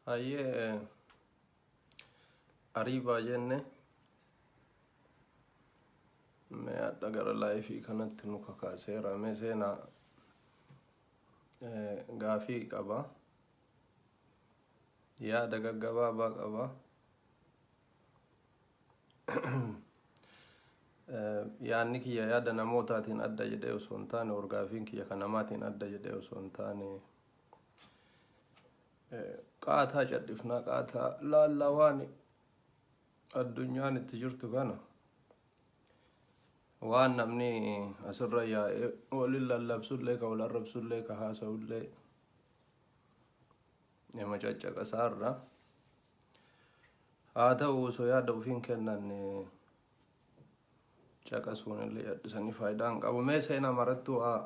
Hayyee ariibaa jenne mee hadha gara laayifii kanatti nu kakaaseera mee seenaa gaafii qaba yaada gaggabaabaa qaba yaanni kiyya yaada namootaatiin adda jedhee osoo hin taane orgaafiin kiyya kan namaatiin adda jedhee osoo hin taane qaataa cadhifnaa qaataa laallaa waan addunyaan itti jirtu kana waan namni asirra yaa'ee waliin lallabsullee ka wal arrabsullee ka haasa'ullee nama caccaqasaarra Haa ta'u osoo yaada ofii hin kennanne caqasuun illee yaadisanii faayidaa hin qabu. Mee seenaa marattuu haa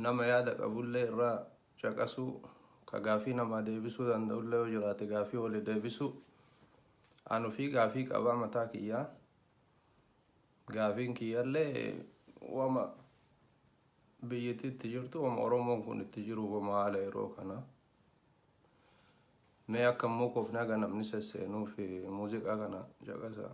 nama yaada qabullee irraa caqasuu ka gaafii namaa deebisuu danda'ullee yoo jiraate gaafii wali deebisuu. An ofii gaafii qabaa mataa kiyyaa. Gaafiin kiyyallee wama biyyatti itti jirtu wama Oromoon kun itti jiru wama haala yeroo kana Mee akka hin muukofne haga namni sesseenuuf muuziqaa kana caqasaa.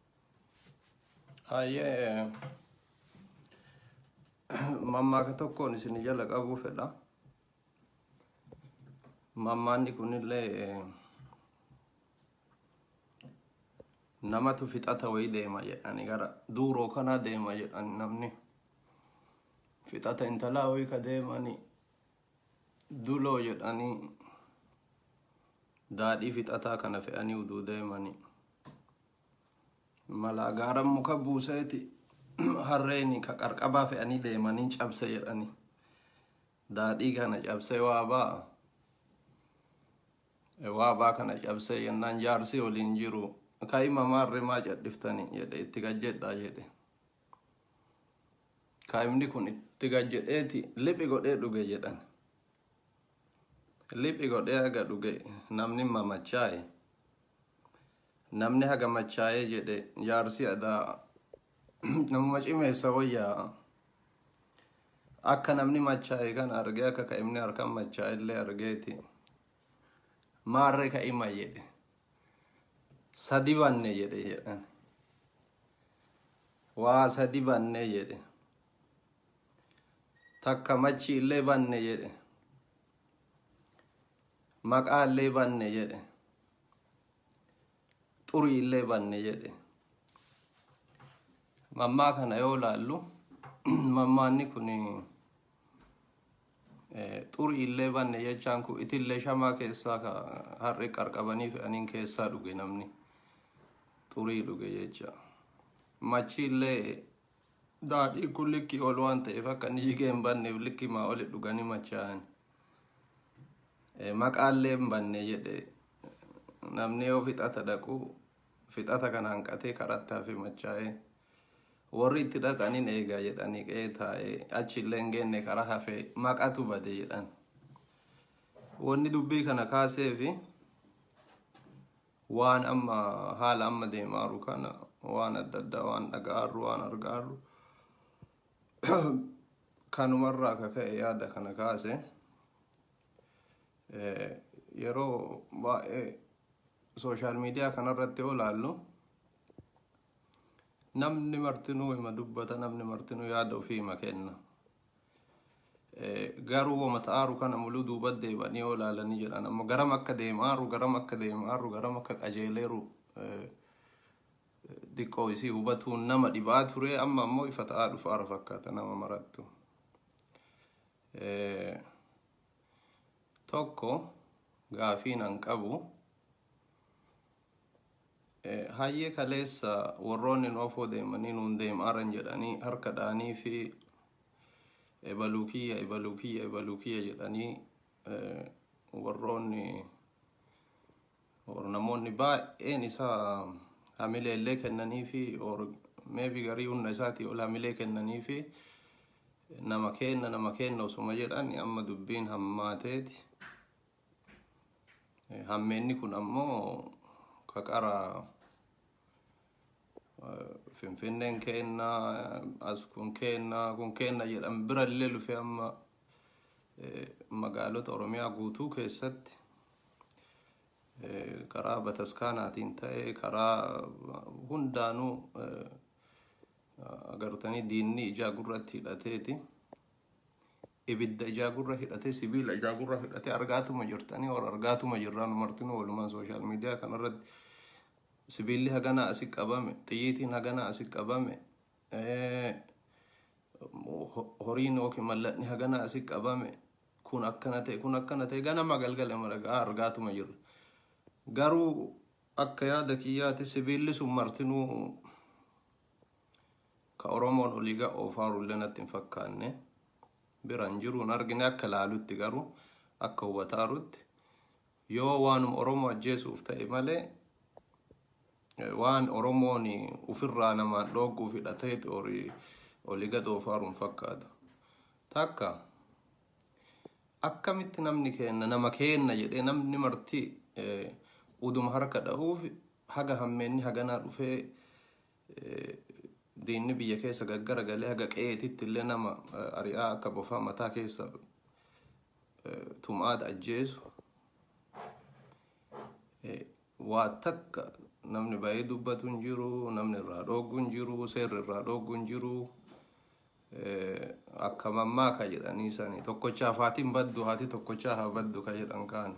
Hayyee mammaaka tokkoon isin jala qabuu fedha. Mammaanni kunillee namatu fixata wayii deema jedhani gara duuroo kanaa deema jedhani namni fixata intalaa wayii ka deemani Duloo jedhanii daadhii fixataa kana fe'anii uduu deemanii malaa gaara muka buuseeti harreeni ka qarqabaa fe'anii deemanii cabse jedhanii daadhii kana cabsee waabaa waabaa kana cabsee jennaan jaarsii waliin jiru ka'ima maarrimaa cadhiftanii jedhe itti gajjedhaa jedhe kaa'imni kun itti gad jedheeti liphi godhee dhuge jedhan liphi godhee haga dhuge namni mamachaa'e namni haga machaa'ee jedhe jaarsi adaa namuma cimeessa wayyaa akka namni machaa'e kan argee akka ka'imni harkaan machaa'e illee argeeti maarree ka'ima jedhe sadi banne jedhe jedhan waa sadi banne jedhe takka machi illee banne jedhe maqaa illee banne jedhe xurii illee banne jedhe mammaa kana yoo laallu mammaanni kun Xuri illee banne jechaan kun itillee shamaa keessaa ka har'e qarqabanii fe'aniin keessaa dhuge namni xurii dhuge jecha machi illee daadhii kun likkii ol waan ta'eef akka inni jigee hin banneef likkii maa oli dhuganii machaa'an maqaallee hin banne jedhe namni yoo fixata dhaqu fixata kana hanqatee karatti hafe machaa'ee warri itti dhaqanin eegaa jedhanii qe'ee taa'ee achi illee hin geenne karaa hafee maqatu bade jedhan. Wanni dubbii kana kaasee fi waan amma haala amma deemaaru kana waan adda addaa waan dhaga'aarru waan argaarru kanumarraa akka ka'e yaada kana kaase. yeroo baay'ee sooshaal miidiyaa kanarratti yoo ilaallu namni martinuu hima dubbata namni martinuu yaada ofii hima kenna garuu wama ta'aaru kana muluu duuba deebanii yoo ilaalanii jedhan amma garam akka deemaaru garam akka deemaaru garam akka qajeeleeru diqqoo isii hubatuun nama dhibaa ture amma ammoo ifa ta'aa dhufaara fakkaata nama marattu. Tokko gaafiin an qabu hayyee kaleessa warroonni noofoo deemanii nuun deemaaran jedhanii harka dhaanii fi ebaluu kiyya ebaluu kiyya ebaluu kiyya jedhanii warroonni or namoonni baay'een isaa hamilee illee kennanii fi or maybe garii humna isaatii ol hamilee kennanii fi nama keenna nama keenna osuma jedhan amma dubbiin hammaateeti hammeenni kun ammoo kaqara Finfinneen keenna as kun keenna kun keenna jedhan bira illee lufee amma magaalota Oromiyaa guutuu keessatti karaa bataskaanaatiin ta'ee karaa hundaanuu agartanii diinni ijaa gurratti hidhateeti. Ibidda ijaa gurra hidhatee sibiila ijaa gurra hidhatee argaatuma jirtanii or argaatuma jirraan martinuu walumaan sooshaal miidiyaa kanarratti Sibiilli haganaa asi qabame, xiyyiitiin haganaa asi qabame, horiin yookiin mallatni haganaa asi qabame, kun akkana ta'e, kun akkana ta'e ganama galgala maragaa argaatuma jirra. Garuu akka yaada kiyyaati sibiilli sun martinuu ka Oromoon olii ga oofaaru illee natti hin fakkaanne. Biraan jiruun argine akka laalutti garuu akka hubataarutti Yoo waanuma Oromoo ajjeesuuf ta'e malee waan Oromoon ufirraa namaan dhoogguuf hidhatee oli gad oofaaru hin fakkaatu. Takka akkamitti namni keenna nama keenna jedhee namni marti uduma harka dhahuuf haga hammeenni haganaa dhufee diinni biyya keessa gaggara galee haga qe'eetitti illee nama ari'aa akka bofaa mataa keessa tumaata ajjeesu waa takka namni baay'ee dubbatu hin jiru namni irraa dhooggu hin jiru seerri irraa dhooggu hin jiru akka mammaa ka jedhanii sanii tokkochaaf haatiin baddu haati tokkochaa haa baddu ka jedhan kaani.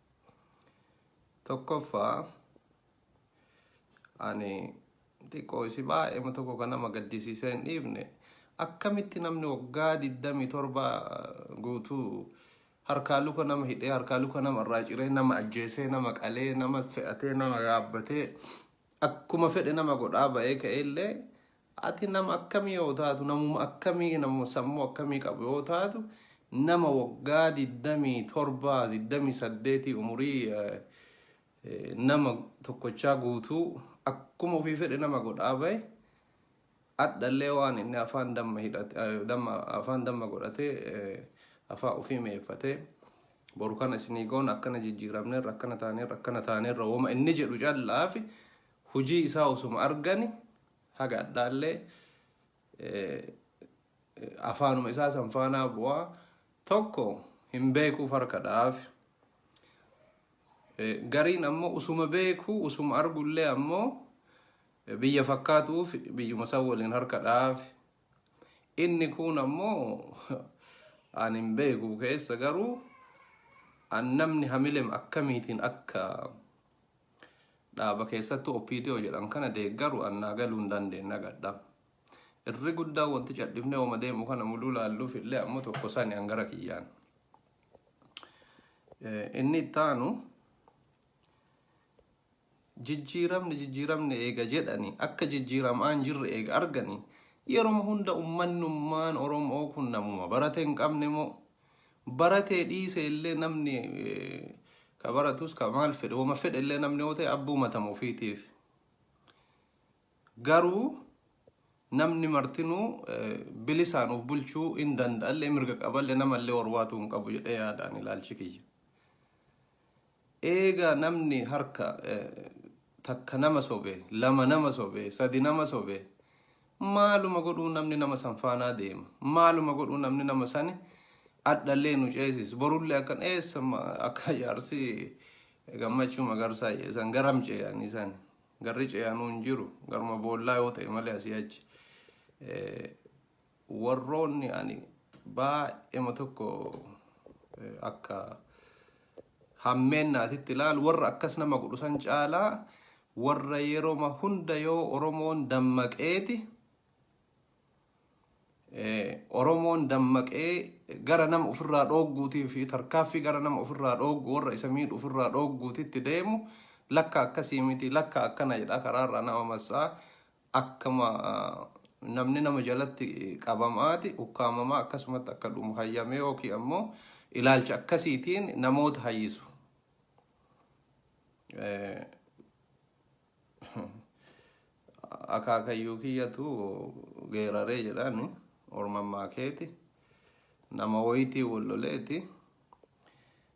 Tokkoffaa ani xiqqoo isi baay'eema tokko kan nama gaddisiisee hin dhiifne akkamitti namni waggaa 27 guutuu harkaa luka nama hidhee harkaa luka nama irraa ciree nama ajjeesee nama qalee nama fe'atee nama yaabbatee akkuma fedhe nama godhaa ba'ee ka'ee illee Ati nama akkamii yoo taatu namuma akkamii nama sammuu akkamii qabu yoo taatu nama waggaa 27 28 umurii nama tokkochaa guutuu akkuma ofii fedhe nama godhaa bahe adhallee waan inni afaan damma hidhate damma afaan damma godhate afaa ofii meeffate boru kana isinii goon akkana jijjiiramneerra akkana taaneerra akkana taaneerra woma inni jedhu callaafi hujii isaa osuma argani haga adhaallee afaanuma isaa san faanaa bu'aa tokko hin beekuuf harka dha'aaf. Gariin ammoo usuma beeku usuma argullee ammoo biyya fakkaatuuf biyyuma san waliin harka dha'aaf. Inni kun ammoo an hin beeku keessa garuu an namni hamilem akkamiitiin akka Dhaaba keessattuu OPDO jedhan kana deeggaru an naa galuu hin dandeenye nagadha. Irri guddaa wanti cadhifnee wama deemu kana muluu laalluuf illee ammoo tokko sani an gara kiyyaan. Eh, Inni itti aanu jijjiiramni jijjiiramni eega jedhani akka jijjiiramaa hin jirre eega argani yeroma hunda ummannummaan Oromoo kun namuma barate hin qabne moo Baratee dhiisee illee namni ka baratus ka maal fedhe wama fedhe illee namni yoo ta'e abbuu matama ofiitiif. Garuu namni martinuu bilisaan of bulchuu hin danda'allee mirga qaballee namallee warwaatuu hin qabu jedhee yaadaan ilaalchi kiyya. Eega namni harka takka nama sobe, lama nama sobe, sadi nama sobe, maaluma godhuu namni nama san faanaa deema. Maaluma godhuu namni nama sani adhallee nu ceesis. Borullee akkan eessa akka jaarsi gammachuu magarsaa jee san garam ceeyan isan. Garri ceeyanuu hin jiru. Garuma boollaa yoo ta'e malee asii achi. warroonni ani baay'ema tokko akka hammeennaatitti ilaalu warra akkas nama godhu san caalaa warra yeroma hunda yoo Oromoon dammaqeeti Oromoon dammaqee gara nama ofirraa dhoogguutii fi tarkaaffii gara nama ofirraa dhooggu warra isa miidhu ofirraa dhoogguutitti deemu lakka akkasii miti lakka akkana jedha karaarraa nama massaa akkama namni nama jalatti qabamaati ukkaamamaa akkasumatti akka dhumu hayyamee yookiin ammoo ilaalcha akkasiitiin namoota hayyisu. Eh, akaakayyuu kiyyatu geeraree jedhaan ormammaa keeti nama wayitii wal loleeti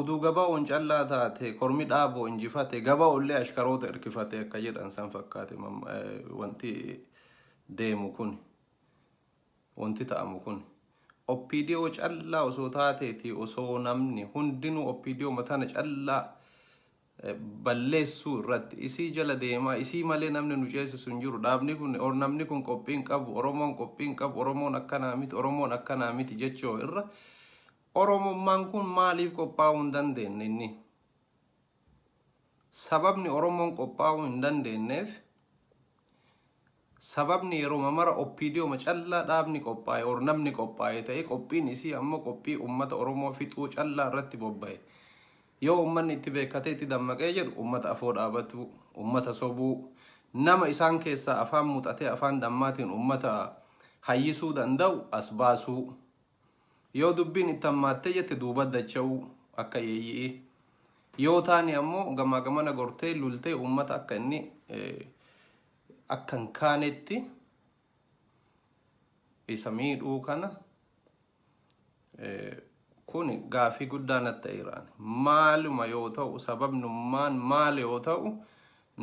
Uduu gabaoon callaa taate kormi dhaaboo injifate gabaollee ashkaroota irkifate akka jedhan san fakkaate wanti deemu kun wanti ta'amu kun opdo callaa osoo taateeti osoo namni hundinuu opdo matana callaa balleessuu irratti isii jala deemaa isii malee namni nu ceesisu hin jiru dhaabni kun or namni kun qophii hin qabu oromoon qophii hin qabu oromoon akkanaa miti oromoon akkanaa miti jechoo irra oromummaan kun maaliif qophaa'uu hin dandeenye inni sababni oromoon qophaa'uu hin dandeenyeef Sababni yeroma mara OPDOma callaa dhaabni qophaa'e or namni qophaa'e ta'ee qophiin isii ammoo qophii ummata Oromoo fixuu callaa irratti bobba'e. Yoo ummanni itti beekkatee itti dammaqee jedhu ummata afoo dhaabatuu, ummata sobuu, nama isaan keessaa afaan muxatee afaan dhammaatiin ummata hayyisuu danda'u as baasuu, Yoo dubbiin itti hammaattee jette duuba dacha'uu akka yeeyyi'ii. Yoo taane ammoo gamaa gamana gortee lultee uummata akka inni akka hin kaanetti isa miidhuu kana kun gaafii guddaa natti ta'eeraan maaluma yoo ta'u sababnummaan maal yoo ta'u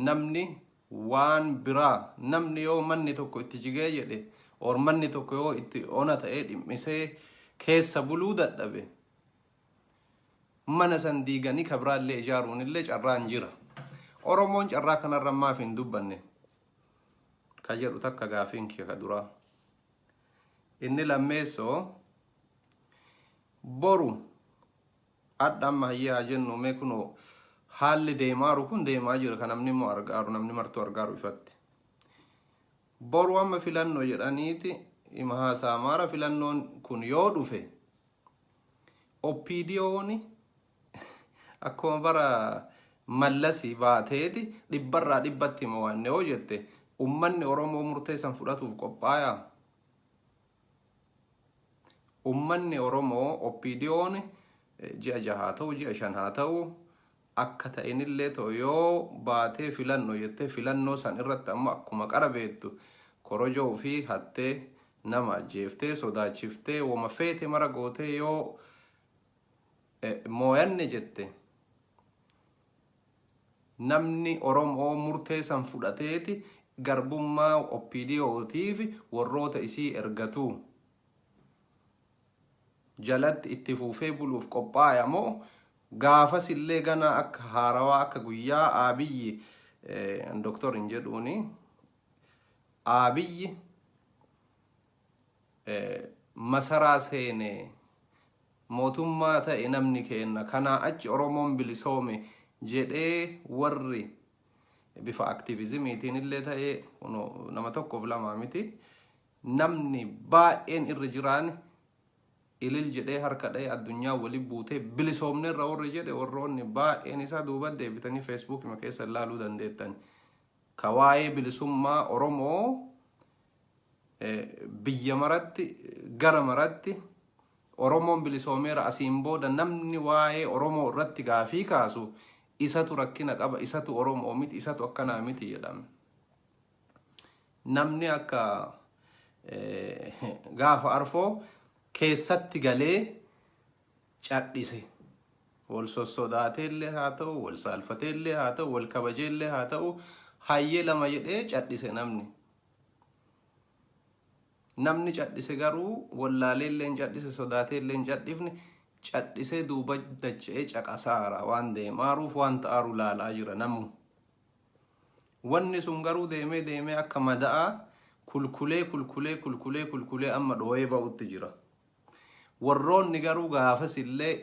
namni waan biraa namni yoo manni tokko itti jigee jedhe or manni tokko yoo itti ona ta'ee dhimmisee keessa buluu dadhabe mana san diiganii ka biraallee ijaaruun illee carraan jira. Oromoon carraa kanarra maaf hin dubbanne ka jedhu takka gaafiin kee ka duraa. Inni lammeessoo boru Adha amma hayyee haa jennu mee kunoo haalli deemaaru kun deemaa jira kan namni immoo argaaru namni martuu argaaru ifatti. Boru amma filannoo jedhaniiti ima haasaa maara filannoon kun yoo dhufe OPDOni akkuma bara mallasi baateeti dhibbarraa dhibbatti hima waanne yoo jette ummanni Oromoo murteessan fudhatuuf qophaayaa. Ummanni Oromoo OPDOn ji'a jaha haa ta'u, ji'a shan haa ta'u, akka ta'inillee ta'u yoo baatee filanno jettee filannoo san irratti ammoo akkuma qara beektu korojoo ofii hattee nama ajjeeftee sodaachiftee woma feete mara gootee yoo mooyanne jette Namni Oromoo murtee san fudhateeti garbummaa OPDO tiifi worroota isii ergatuu jalatti itti fuufee buluuf qophaaya moo gaafasillee ganaa akka haarawaa akka guyyaa Aabiyyi Doktor hin jedhuuni Aabiyyi masaraa seene mootummaa ta'e namni keenna kanaa achi Oromoon bilisoome jedhee warri bifa aktiivizimiitiin illee ta'ee kuno nama tokkoof lamaa miti namni baay'een irra jiraan ilil jedhee harka dha'ee addunyaa wali buutee bilisoomne irra warri jedhe warroonni baay'een isaa duuba deebitanii feesbuukima keessa ilaaluu dandeettan ka waa'ee bilisummaa Oromoo biyya maratti gara maratti Oromoon bilisoomeera asiin booda namni waa'ee Oromoo irratti gaafii kaasu isatu rakkina qaba isatu Oromoo miti isatu akkanaa miti jedhame. Namni akka gaafa arfoo keessatti galee cadhise. Wal sossodaatee illee haa ta'u, wal saalfatee illee haa ta'u, wal kabajee illee haa ta'u, hayyee lama jedhee cadhise namni. Namni cadhise garuu wallaalee illee hin cadhise sodaatee illee hin cadhifne cadhisee duuba dacha'ee caqasaara waan deemaaruuf waan ta'aaru laalaa jira namu. Wanni sun garuu deemee deemee akka mada'aa kulkulee kulkulee kulkulee kulkulee amma dhooyee ba'utti jira. Warroonni garuu gaafas illee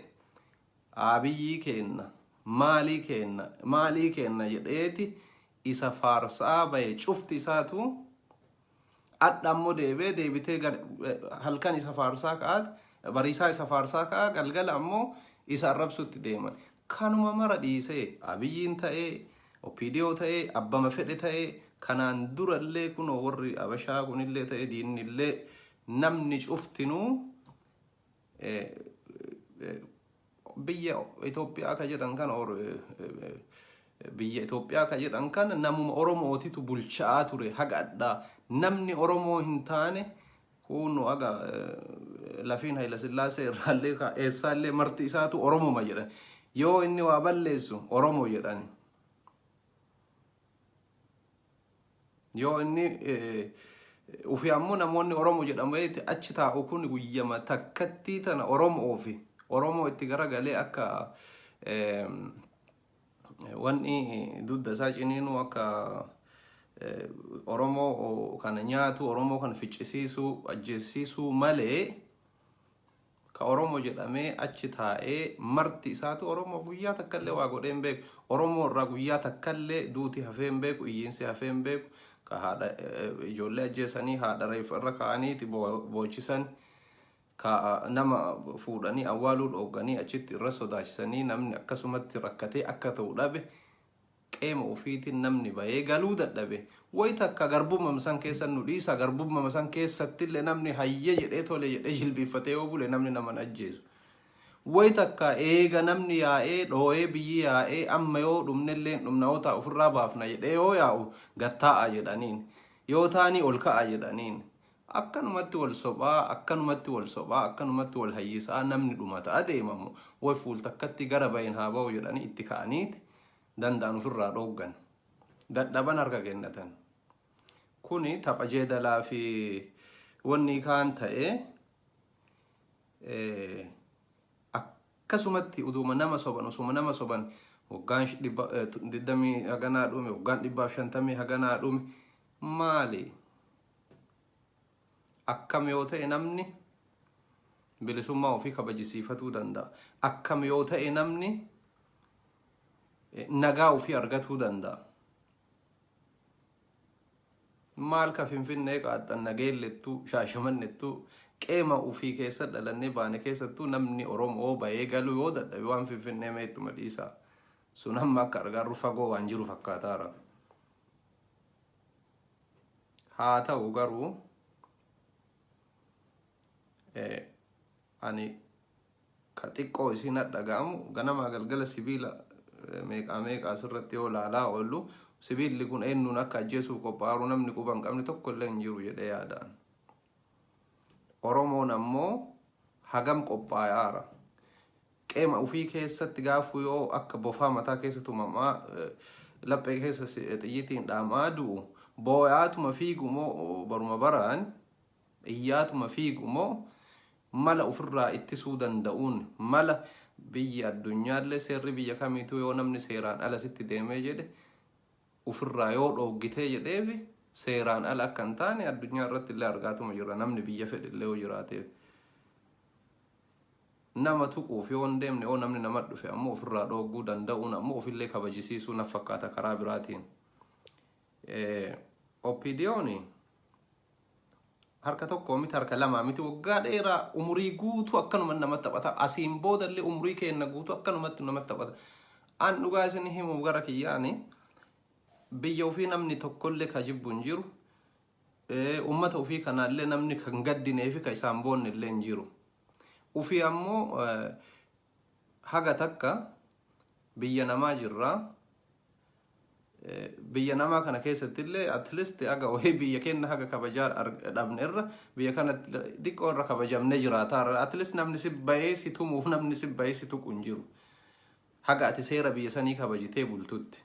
Abiyyii keenna, maalii keenna, maalii keenna jedheeti isa faarsaa baye cufti isaatu adha ammoo deebee deebitee gar- eh, halkan isa faarsaa ka'aat bariisaa isa faarsaa ka'a galgala ammoo isa arrabsutti deeman. Kanuma mara dhiisee abiyyiin ta'ee OPDO ta'ee abbama fedhe ta'ee kanaan durallee kunoo warri abashaa kunillee ta'ee diinnillee namni cuftinuu biyya Itoophiyaa ka jedhan kana or biyya Itoophiyaa ka jedhan kana namuma Oromootitu bulchaa ture haga adhaa namni Oromoo hin taane kuunu aga lafiin Hayila Sillaasee irraallee ka eessaallee marti isaatu Oromuma jedhan yoo inni waa balleessu Oromo jedhani. Yoo inni ufi ammoo namoonni Oromo jedhameeti achi taa'u kun guyyama takkattii tana Oromoo fi Oromoo itti garagalee akka wanni dudda isaa ciniinuu akka Oromoo kana nyaatu Oromoo kana ficcisiisuu ajjeessiisuu malee Ka Oromo jedhamee achi taa'ee marti isaatu Oromo guyyaa takkallee waa godhee hin beeku. Oromo irraa guyyaa takkallee duuti hafee hin beeku, iyyiinsi hafee hin beeku. Ka haadha eh, ijoollee ajjeesanii haadha reeffa irra kaa'aniiti boo- boochisan. Ka ah, nama fuudhanii awwaaluu dhoogganii achitti irra sodaachisanii namni akkasumatti rakkatee akka ta'u dhabe Qeema ufiitin namni bayee galuu dadhabe. Way takka garbummam san keessa nu dhiisa garbummama san keessattille namni hayyee jedhee tole jedhee jilbiiffatee yoo bule namni nama hin ajjeesu. Way takka eega namni yaa'ee dhooyee biyyi yaa'ee amma yoo dhumnelleen dhumna yoo ta'a ufirraa baafna jedhee yoo yaa'u gad taa'aa jedhaniin. Yoo taanii ol ka'aa jedhaniin. Akkanumatti wal sophaa akkanumatti wal sophaa akkanumatti wal hayyisaa namni dhumata adeemamu way fuul takkatti gara bayin haa bahu jedhanii itti ka'aniiti. danda'an ofirraa dhooggan. Dadhaban harka kennatan. Kuni tapha jeedalaa fi wanni kaan ta'ee eh, akkasumatti uduuma nama soban osuma nama soban waggaan sh- dhibba- eh, tu- digdamii haganaa dhume waggaan dhibbaaf shantamii haganaa dhume maali akkam yoo ta'e namni bilisummaa ofii kabajisiifatuu danda'a akkam yoo ta'e namni nagaa ofii argatuu danda'a. Maal ka finfinnee qaaxxan nageellettuu shaashamannettuu qeema ofii keessa dhalannee baane keessattuu namni Oromoo bahee galuu yoo dadhabe waan finfinnee meettuma dhiisaa. Sun amma akka argaarru fagoo waan jiru fakkaataara. Haa ta'u garuu ani ka xiqqoo isiin hadhaga'amu ganamaa galgala sibiila meeqaa meeqaa asirratti yoo laalaa oollu sibiilli kun eennuun akka ajjeesuuf qophaa'aru namni quba hin qabne tokko illee hin jiru jedhee yaadaan. Oromoon ammoo hagam qophaa'aara. Qeema ufii keessatti gaafuu yoo akka bofaa mataa keessa tumamaa laphee keessa xiyyitiin dhaamaa du'u booyaatuma fiigu moo baruma baraan Xiyyaatuma fiigu moo mala ufirraa ittisuu danda'uun mala biyyi addunyaallee seerri biyya kamiituu yoo namni seeraan ala sitti deemee jedhe ufirraa yoo dhooggitee jedheefi seeraan ala akka hin taane addunyaa irratti illee argaatuma jirra namni biyya fedhe illee yoo jiraateef nama tuquuf yoo hin deemne yoo namni nama dhufe ammoo ofirraa dhoogguu danda'uun ammoo ofillee kabajisiisuu naf fakkaata karaa biraatiin. OPDOni harka tokko miti harka lamaa miti waggaa dheeraa umurii guutuu akkanuma nama taphata asiin boodallee umurii keenna guutuu akkanumatti nama taphata an dhugaa isin himu gara kiyyaani biyya ofii namni tokkollee ka jibbu hin jiru Eh, ummata ofii kanaallee namni kan gaddinee fi ka isaan boonne illee hin jiru ofii ammoo eh, Haga takka biyya namaa jirra. Biyya namaa kana keessatti illee at least haga wayii biyya keenya haga kabajaa dhabne irra biyya kana xiqqoo irra kabajamnee jiraata. At least namni si bahee si tumuuf namni si bahee si tuqu hin jiru. Haga ati seera biyya sanii kabajitee bultutti.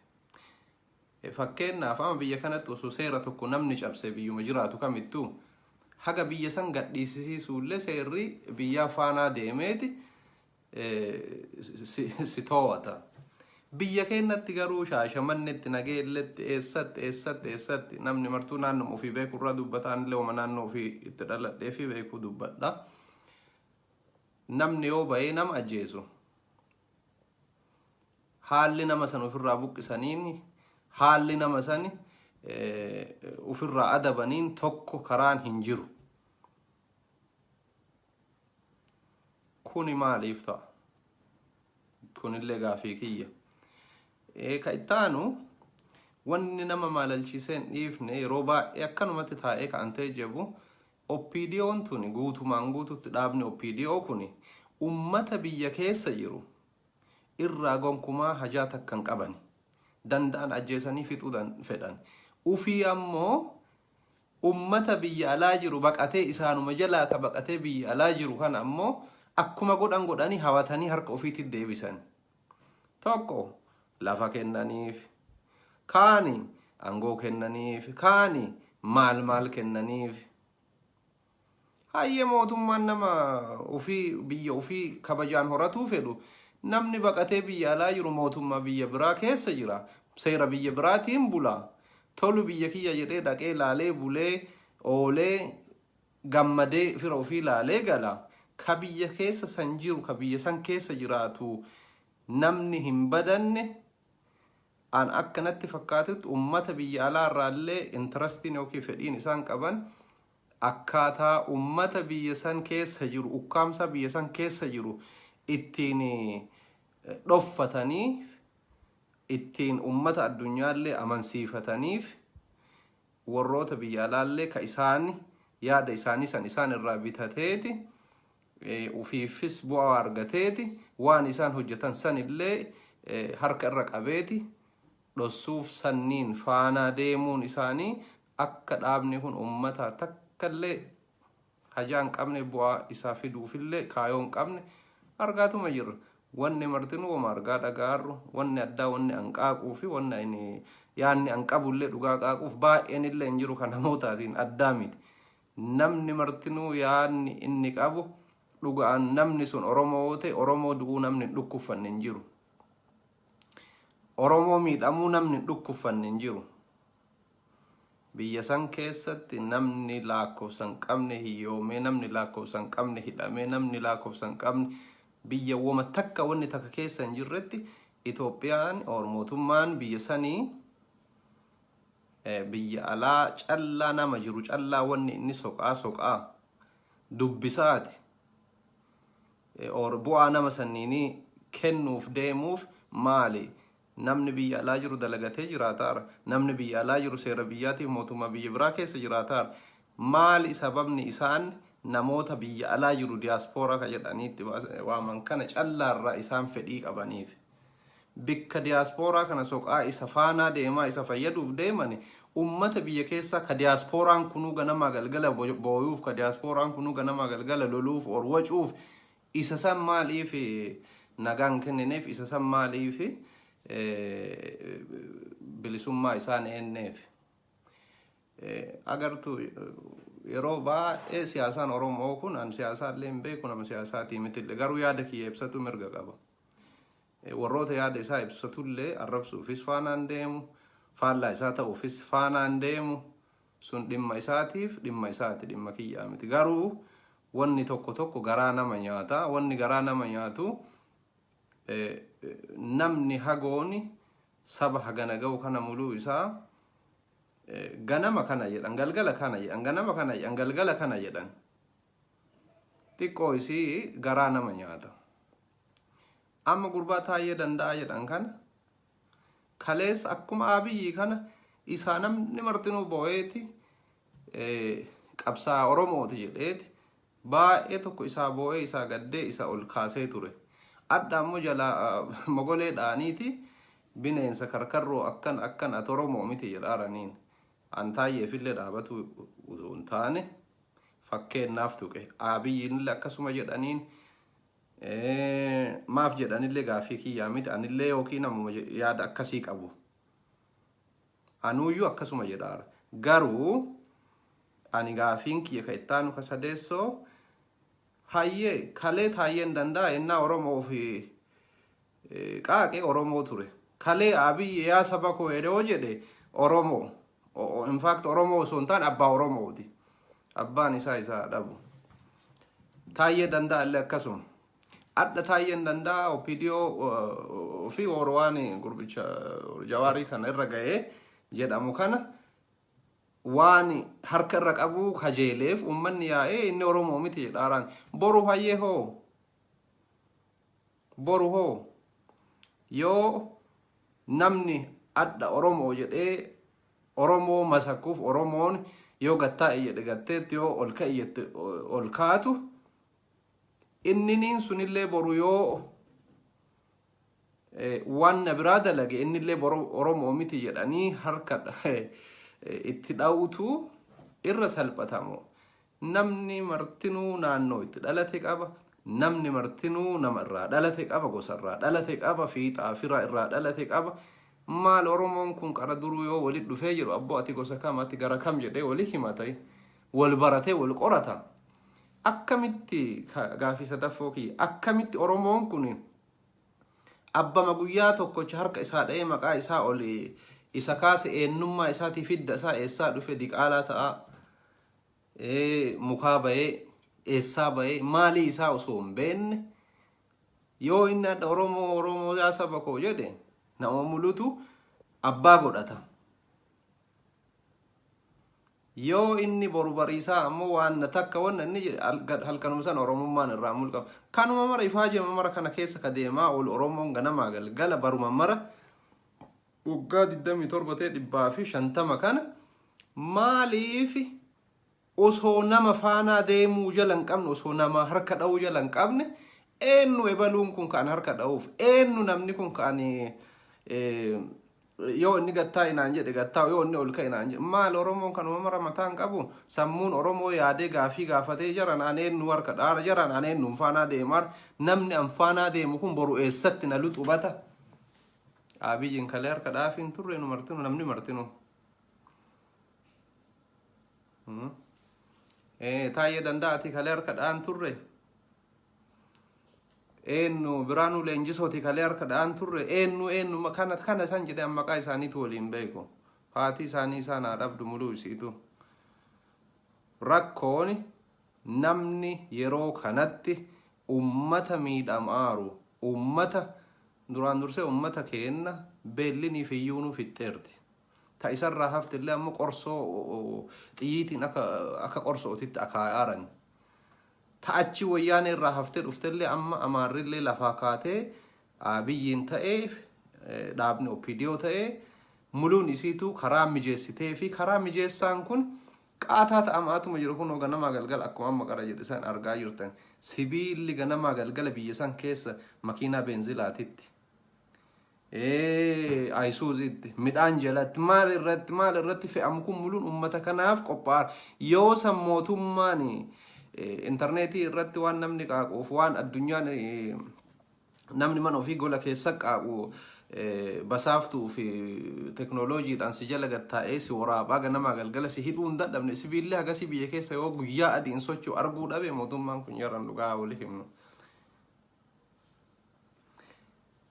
Fakkeennaaf ama biyya kanatti osoo seera tokko namni cabse biyyuma jiraatu kamittuu haga biyya san gadhiisisiisuullee seerri biyyaa faanaa deemeeti si toowata. Biyya keennatti garuu shaashamannetti nageelletti eessatti eessatti eessatti namni martuu naannuma ofii beeku irraa dubbata anillee uma naannoo ofii itti dhaladhee fi beekuu dubbadha. Namni yoo ba'ee nama ajjeesu haalli nama san ofirraa buqqisaniin haalli nama san ofirraa adabaniin tokko karaan hin jiru. Kuni maaliif ta'a? Kunillee gaafii kiyya. Ka ittaanu wanni nama maalalchiisee hin dhiifne yeroo baay'ee akkanumatti taa'ee ka'antee jebu OPDOn tuni guutumaan guututti dhaabni OPDO kuni ummata biyya keessa jiru irraa gonkumaa hajaa takka hin qabani. Danda'an ajjeesanii fixuu dan fedhan. Ufii ammoo ummata biyya alaa jiru baqatee isaanuma jalaa ka baqatee biyya alaa jiru kana ammoo akkuma godhan godhanii hawatanii harka ufiitti deebisani. Tokko lafa kennaniif, kaani angoo kennaniif, kaani maal maal kennaniif. Hayyee mootummaan nama ofii biyya ofii kabajaan horatuu fedhu namni baqatee biyya alaa jiru mootummaa biyya biraa keessa jira. Seera biyya biraatiin bula. Tolu biyya kiyya jedhee dhaqee laalee bulee oolee gammadee fira ofii laalee gala. Ka biyya keessa san jiru, ka biyya san keessa jiraatu namni hin badanne an akka natti fakkaatutti ummata biyya alaa irraallee intarastiin yookiin fedhiin isaan qaban akkaataa ummata biyya san keessa jiru, ukkaamsaa biyya san keessa jiru ittiin eh, dhoffatanii ittiin ummata addunyaallee amansiifataniif worroota biyya alaallee ka isaan yaada isaanii san isaan irraa bitateeti, ufiifis bu'aa argateeti, waan isaan hojjatan sanillee harka irra qabeeti dhossuuf sanniin faanaa deemuun isaanii akka dhaabni kun ummataa takkallee hajaa hin qabne bu'aa isaa fiduufillee kaayoo hin qabne argaatuma jirra. Wanni martinuu woma argaa dhaga'aarru wanni addaa wanni an qaaquu fi wanni ani yaanni an qabullee dhugaa qaaquuf baay'eenillee hin jiru kan namootaatiin addaa miti. Namni martinuu yaanni inni qabu dhuga'aan namni sun Oromoo yoo ta'e Oromoo du'uu namni hin dhukkuffanne hin jiru. Oromoo miidhamuu namni hin dhukkuffanne hin jiru. Biyya san keessatti namni laakkofsa hin qabne hiyyoomee, namni laakkofsa hin qabne hidhamee, namni laakkofsa hin qabne biyya woma takka wanni takka keessa hin jirretti Itoophiyaan or mootummaan biyya sanii biyya alaa callaa nama jiru callaa wanni inni soqaa soqaa dubbisaati or bu'aa nama sanniinii kennuuf deemuuf maali Namni biyya alaa jiru dalagatee jiraataara. Namni biyya alaa jiru seera biyyaatiif mootummaa biyya biraa keessa jiraataara. Maali sababni isaan namoota biyya alaa jiru diyaaspooraa ka jedhanii itti waaman kana callaarraa isaan fedhii qabaniif. Bikka diyaaspooraa kana soqaa isa faanaa deemaa isa fayyaduuf deemani ummata biyya keessaa ka diyaaspooraan kunuu ganamaa galgala booyuuf ka diyaaspooraan kunuu ganamaa galgala loluuf or wacuuf Isa san maaliif nagaa hin kennineef? Isa san maaliif bilisummaa isaa hin eenneef? Agartuu yeroo baay'ee siyaasaan Oromoo kun an siyaasaa illee hin beeku nama siyaasaatii miti illee garuu yaada kiyya ibsatu mirga qaba. Warroota yaada isaa ibsatu illee arrabsuufis faanaan deemu faallaa isaa ta'uufis faanaan deemu sun dhimma isaatiif dhimma isaati dhimma kiyyaa miti garuu wanni tokko tokko garaa nama nyaata wanni garaa nama nyaatu eh, eh, namni hagooni saba hagana ga'u kana muluu isaa eh, ganama kana jedhan galgala kana jedhan ganama kana jedhan galgala kana jedhan xiqqoo isii garaa nama nyaata amma gurbaa taa'ee danda'a jedhan kana Kaleessa akkuma Abiyyi kana isaa namni martinuu bo'eeti qabsaa Oromooti jedheeti baay'ee tokko isaa boo'ee isaa gaddee isa ol kaasee ture. Adda ammoo jalaa mogolee dhaaniiti bineensa karkarroo akkan akkan ati Oromoo miti jedhaaraniin. An taayyeefillee dhaabatu utuu hin taane fakkeennaaf tuqe. Abiyyiinillee akkasuma jedhaniin Maaf jedha anillee gaaffii kiyyaa miti anillee yookiin ammoo yaada akkasii qabu. Anuuyyuu akkasuma jedhaara. Garuu ani gaafiin kiyya ka ittaanu ka sadeessoo hayyee kalee taayyeen danda'a ennaa Oromoo fi Qaaqe Oromoo ture. Kalee Abiy yaa saba koo jedhe hoo jedhe Oromoo. O- o- In fact Oromoo osoo hin taane abbaa Oromooti. Abbaan isaa isaa dhabu. Taayyee danda'a illee akkasuma. Adda taayyeen danda'a OPDO uh, fi Orowaan gurbicha jawaarii kana irra ga'ee jedhamu kana waan harka irra qabu kajeeleef uummanni yaa'ee inni Oromoo miti jedhaaraan. Boru hayyee hoo Boru hoo yoo namni adha Oromoo jedhee Oromoo masakuuf Oromoon yoo gattaa'e jedhe gatteetti yoo ol ka'i jette ol kaatu inniniin sunillee boru yoo waan na biraa dalage innillee boru Oromoo miti jedhanii harka itti dha'utu irra salphatamu. Namni martinuu naannoo itti dhalate qaba. Namni martinuu nama irraa dhalate qaba, gosa irraa dhalate qaba, fiixaa fira irraa dhalate qaba. Maal Oromoon kun qara duruu yoo wali dhufee jedhu abboo ati gosa kam ati gara kam jedhee wali himata wal baratee wal qorata. Akkamitti ka- gaafii sadaffoo kiyya akkamitti Oromoon kun abbama guyyaa tokkocha harka isaa dha'ee maqaa isaa oli isa kaase eenyummaa isaatii fidda isaa eessaa dhufe diqaalaa ta'aa mukaa bahee eessaa bahee maalii isaa osoo hin beekne yoo inni adda Oromoo Oromoo yaa saba koo jedhe nama mulutu abbaa godhata. Yoo inni boru bariisaa ammoo waan takka wanna inni jedhe halkanuma sana Oromummaan irraa mulqama. Kanuma mara ifaa jema mara kana keessa ka deemaa ol Oromoon ganamaa galgala baruma mara waggaa 27 ta'e 150 kana maaliif osoo nama faanaa deemuu jala hin qabne osoo nama harka dha'uu jala hin qabne eenyu ebaluun kun kan harka dha'uuf eenyu namni kun kan eh, yoo inni gattaa inaan jedhe gattaa yoo inni ol ka'e inaan jedhe maal oromoon kan uumama mataa hin qabu sammuun oromoo yaadee gaafii gaafatee jaran an eenyu harka dhaara jaran an eenyu hin faanaa deemaa namni an faanaa deemu kun boru eessatti na luxubata Abiyin kalee harka dhaafii hin turre nu martinu namni martinu. Hmm. Eh, Taayee danda'a ati kalee harka dha'an turre. Eenyu biraanuu leenjisooti kalee harka dha'an turre. Eenyu eenyu ma- kana kana isaan jedhee amma maqaa isaaniitu waliin beeku. Haatii isaanii isaan haa dhabdu muluu isiitu. Rakkoon namni yeroo kanatti ummata miidhamaaru ummata Duraan dursee ummata keenna beellini fiyyuunuu fixxeerti. Ta isarraa haftellee ammoo qorsoo xiyyiitiin akka akka qorsootitti akaayaaran. Ta achi woyyaanee irraa haftee dhuftellee amma Amaarrillee lafaa kaatee Abiyyiin ta'ee dhaabni OPDO ta'ee muluun isiituu karaa mijeessitee fi karaa mijeessaan kun Qaataa ta'amaatuma jiru kunoo ganamaa galgala akkuma amma qara jedhe san argaa jirtan sibiilli ganamaa galgala biyya san keessa makiinaa beenzilaatitti ayisuuziitti midhaan jalatti maal irratti maal irratti fe'amu kun muluun uummata kanaaf qophaa'an yoo san mootummaan intarneetii irratti waan namni qaaqoof waan addunyaan Namni mana ofii gola keessa qaa'u basaaftuu fi teknooloojiidhaan si jala gad taa'ee si waraabaa ganamaa galgala si hidhuu hin dadhabne sibiilli hagasii biyya keessa yoo guyyaa adiin socho'u arguu dhabe mootummaan kun yaran dhugaa wali himnu.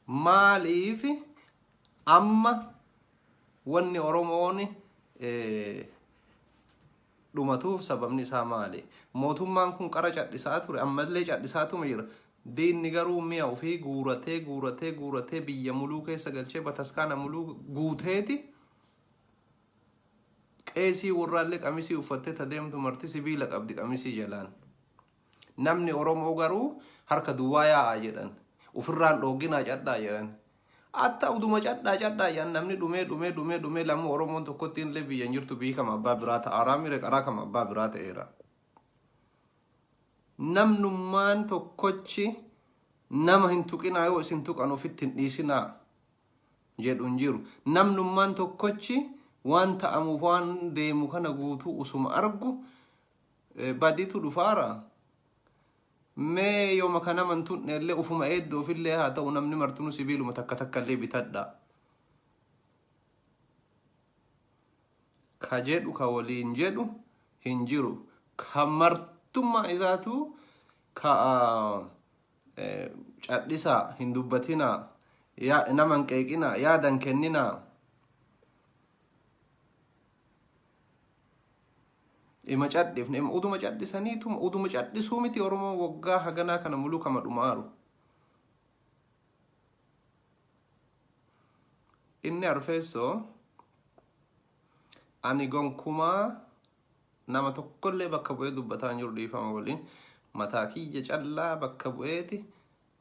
Maaliif amma wanni Oromoon eh, dhumatuuf sababni isaa maali? Mootummaan kun qara cadhisaa ture, ammallee cadhisaatuma jira. Diinni garuu mi'a ofii guuratee guuratee guuratee biyya muluu keessa galchee bataskaana muluu guuteeti qeesii warraallee qamisii uffattee ta deemtu marti sibiila qabdi qamisii jalaan. Namni Oromoo garuu harka duwwaa yaa'a jedhan. Ufirraan dhoogginaa cadhaa jedhan. Atta uduma cadhaa cadhaa jedhan namni dhumee dhumee dhumee dhumee lammuu Oromoon tokkotti illee biyya hin jirtu biyyi kama abbaa biraa ta'aaraa mire qaraa kama abbaa biraa ta'eera. Namnummaan tokkochi nama hin tuqinaa yoo isin tuqan ofitti hin dhiisinaa jedhu hin jiru. Namnummaan tokkochi waan ta'amuuf waan deemu kana guutuu usuma argu Eh, Badiitu dhufaara. Mee yooma kana mantuun illee ufuma eeddoo ofillee haa ta'u namni martinuu sibiiluma takka takka illee bitadha. Ka jedhu ka waliin jedhu hin jiru. Ka martummaa isaatu ka ah, eh, cadhisaa hin dubbatinaa yaa- nama hin qeeqinaa yaadan kenninaa. Ima cadhifne ima uduma cadhisaniituma uduma cadhisuu miti Oromoo waggaa haganaa kana muluu kama dhumaaru. Inni arfeessoo ani gonkumaa nama tokkollee bakka bu'ee dubbataa hin jiru dhiifama waliin mataa kiyya callaa bakka bu'eeti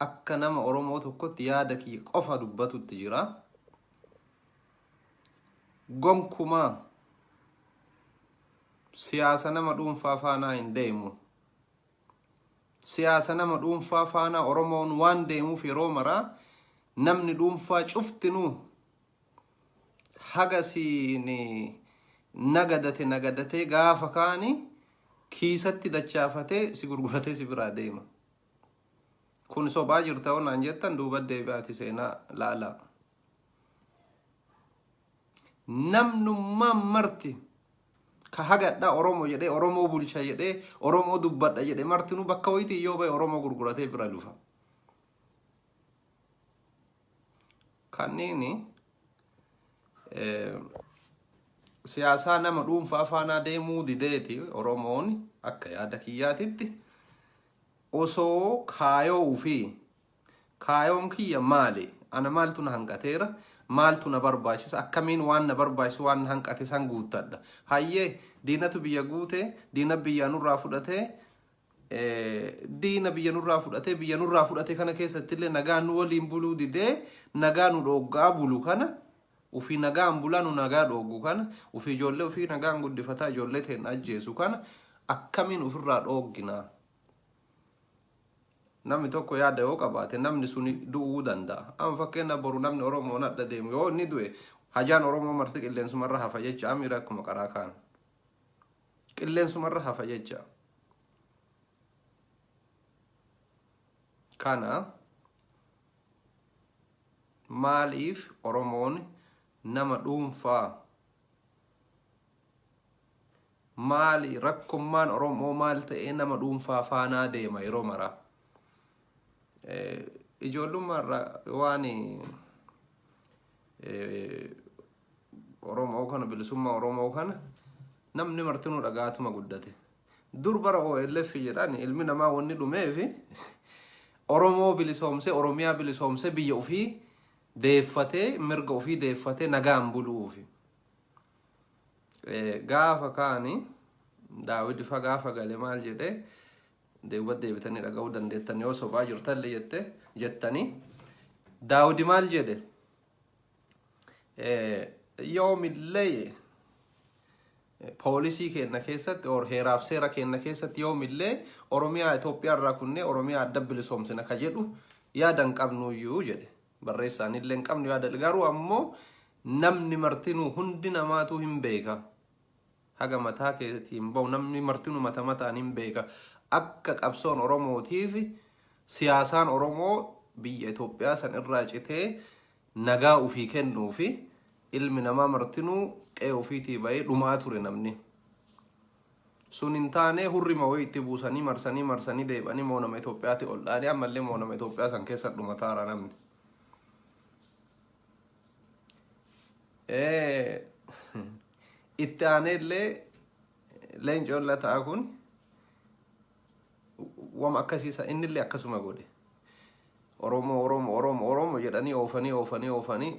Akka nama Oromoo tokkotti yaada kiyya qofa dubbatutti jira. Gonkumaa siyaasa nama dhuunfaa faanaa hin deemu. Siyaasa nama dhuunfaa faanaa Oromoon waan deemuuf yeroo maraa namni dhuunfaa cuftinuu haga siin nagadate nagadatee gaafa kaani kiisatti dachaafatee si gurguratee si biraa deema. Kun sobaa jirta hoo naan jettan duuba deebi'aati seenaa laalaa. Namnummaa marti ka hagadhaa Oromoo jedhee Oromoo bulcha jedhee Oromoo dubbadha jedhe martinuu bakka wayitii yoo ba'e Oromoo gurguratee bira dhufa. Kanniini eh, siyaasaa nama dhuunfaa faanaa deemuu dideeti Oromoon akka yaada kiyyaatitti. Osoo kaayoo ufii, kaayoon kiyya maali? Ana maaltu na hanqateera? Maaltu na barbaachisa? Akkamiin waan na barbaachisu waan na hanqate san guuttadha? Hayyee diinatu biyya guute, diina biyyaa nurraa fudhatee, diina biyya nurraa fudhatee, biyya nurraa fudhate kana keessattillee nagaa nu waliin buluu didee, nagaa nu dhooggaa bulu kana Ufii nagaan bulaa nu nagaa dhooggu kana, ufii ijoollee ufii nagaan guddifataa ijoollee teenna ajjeesu kana akkamiin ufirraa dhooggina? Namni tokko yaada yoo qabaate namni suni du'uu danda'a. Amma fakkeenyaaf boru namni Oromoon adda deemu yoo inni du'e hajaan Oromoo marti qilleensumarra hafa jecha amiira akkuma qaraa kaan. Qilleensumarra hafa jecha. Kana Maaliif Oromoon nama dhuunfaa? Maali rakkommaan Oromoo maal ta'ee nama dhuunfaa faanaa deema yeroo maraa? Ijoollummaarra waan Oromoo kana bilisummaa Oromoo kana namni martinuu dhagaatuma guddate. Dur bara OLF jedhan ilmi namaa wanni dhumeef Oromoo bilisoomsee Oromiyaa bilisoomsee biyya ofii deeffatee mirga ofii deeffatee nagaan buluufi. Eh, Gaafa kaani Daawid ifa gaafa gale maal jedhe deebi'uuf deebitanii dhaga'uu dandeettan yoo sobaa jirtalle jette jettanii Daawid maal jedhe? yoomillee poolisii keenna keessatti or heeraaf seera keenna keessatti yoomillee Oromiyaa Itoophiyaa irraa kunnee Oromiyaa adda bilisoomsina ka jedhu yaada hin qabnuyyuu jedhe. Barreessaan illee hin qabnu yaada garuu ammoo namni martinuu hundi namaatuu hin beeka. haga mataa keetii hin bahu namni martinu mata mataan hin beeka akka qabsoon oromootiif siyaasaan oromoo biyya Itoophiyaa san irraa citee nagaa ofii kennuu fi ilmi namaa martinuu qe'ee ofiitii bahee dhumaa ture namni sun hin taane hurrima wayii itti buusanii marsanii marsanii deebanii moo nama Itoophiyaatti ol dhaanii ammallee moo nama Itoophiyaa san keessa dhumataara namni. Eh, Itti aanee illee leencoon lataa kun wama akkasiisa inni illee akkasuma godhe. Oromoo Oromoo Oromoo Oromoo jedhanii oofanii oofanii oofanii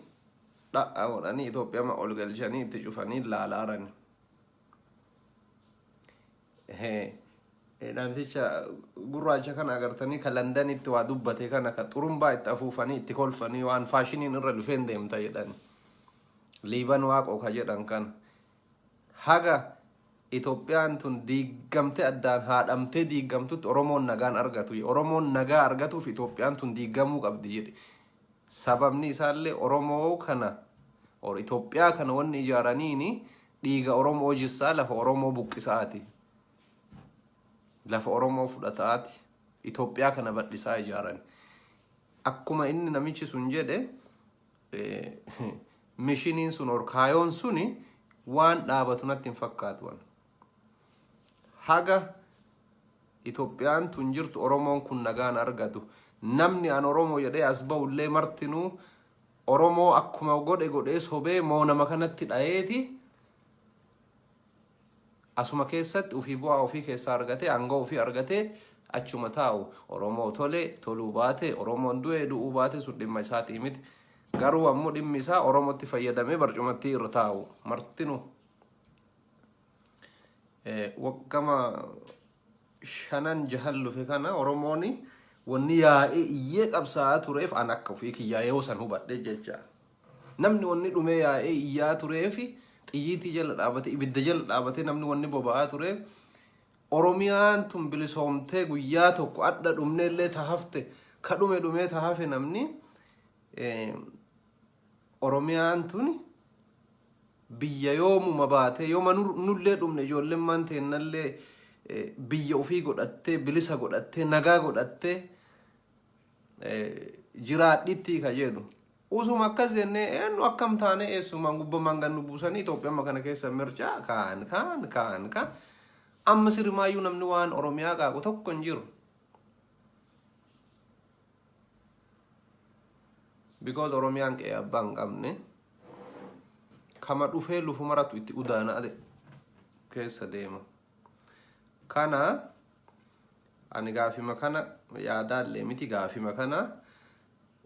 dha'a godhanii Itoophiyaa ol galchanii itti cufanii laalaarani. Namticha gurraacha kana agartanii ka Landanitti waa dubbate kana ka xurumbaa itti afuufanii itti kolfanii waan faashiniin irra dhufeen deemta jedhan. Liiban waaqoo ka jedhan kana. Haga Itoophiyaan tun diigamte addaan haadhamtee diigamtutti Oromoon nagaan argatu. Oromoon nagaa argatuuf Itoophiyaan tun diigamuu qabdi jedhe. Sababni isaallee Oromoo kana or Itoophiyaa kana wanni ijaaraniini dhiiga Oromoo jissaa lafa Oromoo buqqisa'aati. Lafa Oromoo fudhata'aati. Itoophiyaa kana badhisaa ijaarani. Akkuma inni namichi sun jedhe eh, mishiniin sun or kaayoon suni waan dhaabatu natti hin fakkaatu. haga Itoophiyaan tun jirtu Oromoon kun nagaan argatu. Namni an Oromoo jedhee as ba'u illee martinuu Oromoo akkuma godhe godhee sobee moo nama kanatti dhayeeti asuma keessatti ofii bu'aa ofii keessaa argatee aangoo ofii argatee achuma taa'u Oromoo tolee toluu baate Oromoon du'ee du'uu baate sun dhimma isaatii miti. Garuu ammoo dhimmi isaa Oromootti fayyadamee barcumatti irra taa'u martinuu. waggama shanan jahan lufe kana oromooni wanni yaa'ee iyyee qabsaa'aa tureef an akka ofii kiyyaa yoo san hubadhe jecha namni wanni dhumee yaa'ee iyyaa tureefi xiyyiitii jala dhaabate ibidda jala dhaabate namni wanni boba'aa tureef oromiyaan tun bilisoomtee guyyaa tokko adda dhumneellee tahafte ka dhume dhumee tahafe namni Oromiyaan tuni biyya yoomuma baatee yoma nullee dhumne ijoollemmaan teennallee biyya ufii godhattee bilisa godhattee nagaa godhattee jiraadhitti ka jedhu. Usuma akkas jennee eenyu akkam taanee eessumaan gubbamaan gad nu buusanii Itoophiyamma kana keessa mircaa kaan kaan kaan kaan amma sirimaayyuu namni waan Oromiyaa qaaqu tokko hin jiru. Because Oromiyaan qe'ee abbaa hin qabne kama dhufee lufu maratu itti udaana ade keessa deema. Kana ani gaafima kana yaadaallee miti gaafima kana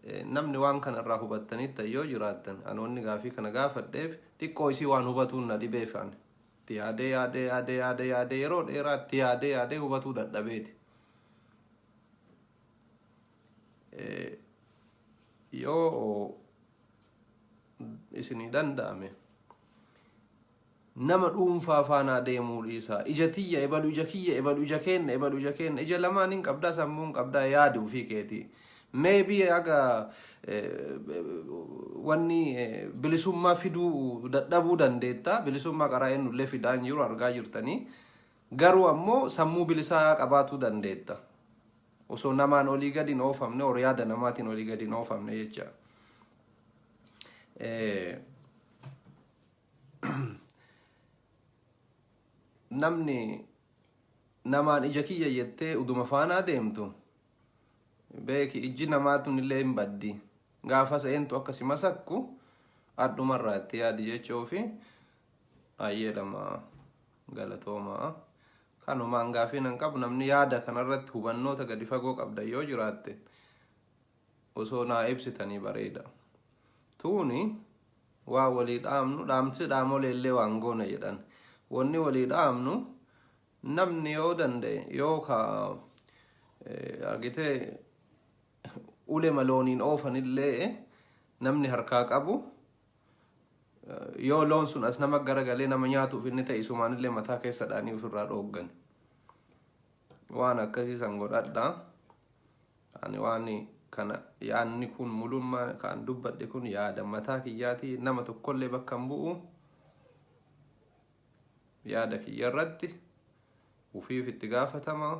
eh, namni waan kana irraa hubattanitta yoo jiraattan ani wanni gaafii kana gaafadheef xiqqoo isii waan hubatuun na dhibeef ani itti yaadee yaadee yaadee yaadee yaadee yeroo dheeraa itti yaadee yaadee hubatuu dadhabeeti. yoo isinii danda'ame nama dhuunfaa faanaa deemuu dhiisaa ija tiyya ebalu ija kiyya ebalu ija keenna ebalu ija keenna ija lamaan hin qabdaa sammuu hin qabdaa yaadi ofii keetii meebii aga wanni bilisummaa fiduu dadhabuu dandeetta bilisummaa qaraa ennullee fidaan jiru argaa jirtanii Garuu ammoo sammuu bilisaa qabaatuu dandeetta. Osoo namaan olii gadi hin oofamne or yaada namaatiin olii gadi hin oofamne jecha. Namni namaan ija kiyya jettee uduma faanaa deemtu beeki ijji namaa tunillee hin baddi. Gaafas eentu akka si masakku adhumarraa itti yaadi jechuu fi ayyee lamaa. Galatooma. Kanumaan gaafii nan qabu namni yaada kanarratti hubannoota gadi fagoo qabdan yoo jiraatte osoo naa ibsitanii bareeda. Tuuni waa walii dhaamnu dhaamsi dhaamolee illee waan goona jedhan. Wanni walii dhaamnu namni yoo danda'e yoo ka eh, argitee ulema looniin oofanillee namni harkaa qabu Yoo loon sun as nama garagalee nama nyaatuuf inni ta'e isumaanillee mataa keessa dhaanii ofirraa dhooggan. Waan akkasii san godhadhaa. Ani waan kana yaadni kun mulummaa kan dubbadhe kun yaada mataa kiyyaati nama tokkollee bakka hin bu'u. Yaada kiyya irratti ufiif itti gaafatamaa.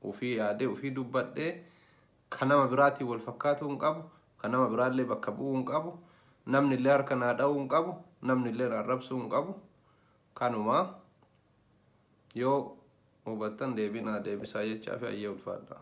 Ufii yaadee ufii dubbadhee kan nama biraatiin wal fakkaatuu hin qabu. Kan nama biraallee bakka bu'uu hin qabu. Namni illee harka naa dha'uu hin qabu. Namni illee naa rabsuu hin qabu. Kanuma yoo hubattan deebii naa deebisaa jechaa fi ayyee ulfaadhaa.